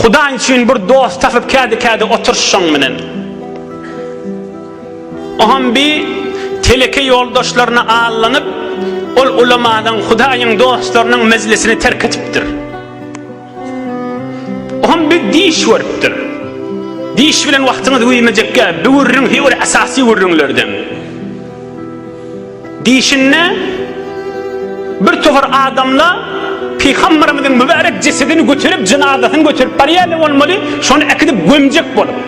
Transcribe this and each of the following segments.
Hudaý üçin bir dost tapyp kädi-kädi otur şoň bilen. Oham bi teleke ýoldaşlaryna allanyp, ol ulamanyň, Hudaýyň dostlarynyň mejlisini terk etipdir. Oham bi diş görüpdir. Diş bilen wagtyňyz güýmejekkä, bi gürrüň heý bir esasy gürrüňlerden. Diýşinde, bir topar adamla Pygamberimiziň mübärek jesedini göterip, jynazasyny göterip barýarlar bolmaly, şony äkidip gömjek bolup.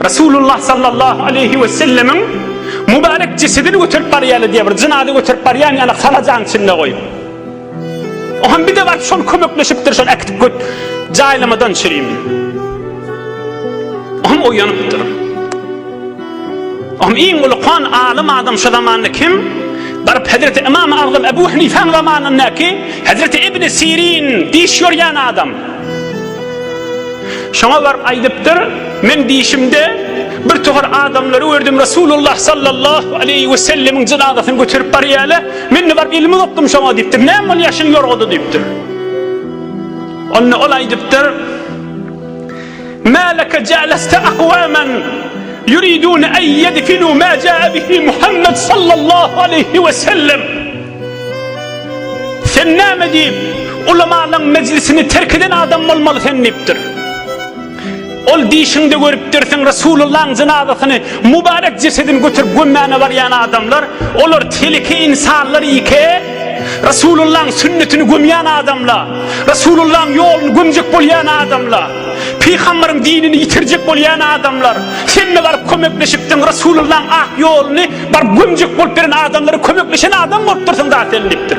Resulullah sallallahu aleýhi we sellemiň mübärek jesedini göterip barýarlar diýýär, bir jynaza göterip barýan ýaly halajaň içinde goýup. Oham bir de baryp şol kömekleşipdir şol äkitip göt jaýlamadan şirim. Oham oýanypdyr. Oham iň uly kan alym adam şu zamanda kim? Baryp Hazreti Imam Agzam Ebu Hanifäň zamanyndaky Hazreti İbn Sirin diş ýorýan adam. Şoňa baryp aýdypdyr, men dişimde bir tohar adamlary gördüm Resulullah sallallahu aleyhi ve sellemiň jynazasyny göterip barýarlar. Men-de baryp elimi uzatdym şoňa diýipdir. Näme ol ýaşyň ýorgady diýipdir. Onda ol aýdypdyr, Mä leke jeleste akwamen yuridune en yedfinu ma ja'a bihi Muhammed sallallahu aleyhi ve sellem. Sen näme diýip, ulamalaryň mejlisini terk eden adam bolmaly sen diýipdir. Ol dişiňde görüpdirsiň Resulullaň jenazasyny mubarek jesedini götürip gömmäne barýan adamlar olar teleke insanlar ike Resulullaň sünnetini gömýän adamla Resulullaň ýoluny gömjek bolýan adamla Pygamberiň dinini ýitirjek bolýan adamlar senne baryp kömekleşipdiň Resulullaň ak ýoluny baryp gömjek bolup beren adamlara kömekleşen adam bolupdyrsyň da sen diýipdir.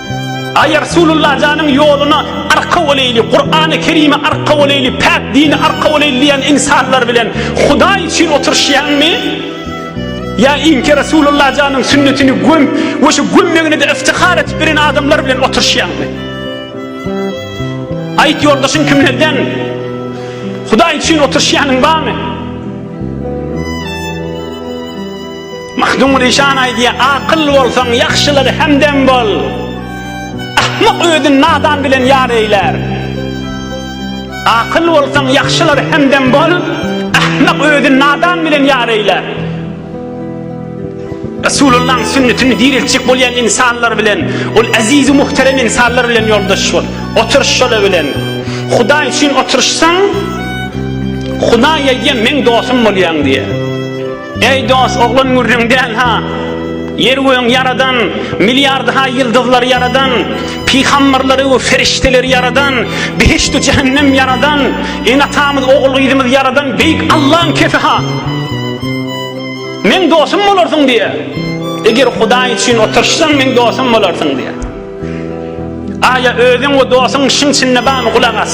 Aý Rasulullah janyň ýoluna arka boleýli, Kurany Kerime arka boleýli, päk dini arka boleýli diýen ynsanlar bilen Hudaý üçin oturyşýaňmy? Ýa inki Rasulullah janyň sünnetini göm we şu gömmegine-de iftihar edip bilen adamlar bilen oturyşýaňmy? Aýt ýoldaşyň kimlerden? Hudaý üçin oturyşýanyň barmy? Mahdum Rişan aýdýar, Akyl bolsaň, ýagşylara hemdem bol. Ahmak özüni nadan bilen ýar eýlär. Akyl bolsaň, ýagşylara hemdem bol, ahmak özüni nadan bilen ýar eýlär. Resulullahyň sünnetini direltjek bolýan ynsanlar bilen, ol eziz we muhterem ynsanlar bilen ýoldaş bol. Oturyş şolar bilen. Hudaý üçin oturyşsaň, Hudaý aýdýar, Meň dostum bolýaň diýýär. Eý dost, oglan gürrüň däl ha. Ýer göň ýaradan, milliard ha ýyldyzlary ýaradan, pygamberleri we ferişdeleri ýaradan, behişt we jähennem ýaradan, ene-atamyz, ogul-gyzymyz ýaradan beýik Allaň kefi ha. Meň dostum bolarsyň diýe. Eger Hudaý üçin oturyşsaň meň dostum bolarsyň diýe. Aýa özüň we dostuň şyň çynda bamy gulak as.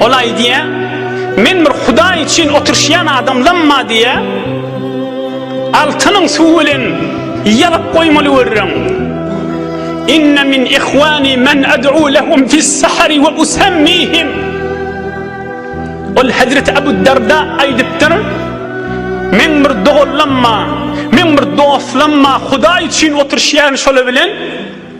Ol aýdýar, Men bir Hudaý üçin oturyşýan adamlamma diýýär. Altynyň suw bilen ýalyp goýmaly görüň. Inne min ihwani men ad'u lahum fis sahri we usammihim. Ol Hazret Abu Darda aýdypdyr. Men bir doganlamma, men bir dostlamma Hudaý üçin oturyşýan şolar bilen.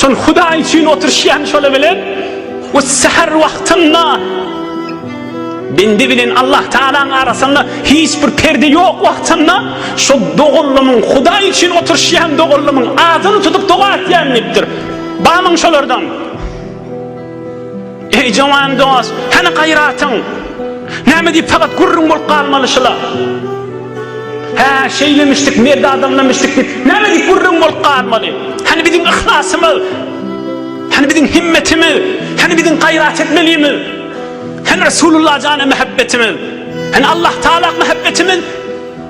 Şol Hudaý üçin oturyşýan şoly bilen we säher wagtynda bendi bilen Allah Taalaň arasynda hiç bir perde ýok wagtynda şol doganlymyň Hudaý üçin oturyşýan doganlymyň adyny tutup doga etýän diýipdir. Bamyň şolardan. Eý jowan dost, hany gaýratyň? Näme diýip fakat gürrüň bolup galmaly şula? Hä, şeýlemişdik, merdi adamlamişdik diýip, näme diýip gürrüň bolup galmaly? Hany biziň yhlasymyz? Hany biziň himmetimiz? Hany biziň gaýrat etmelimiz? Hany Resulullah jana mähebbetimiz? Hany Allahtagala mähebbetimiz?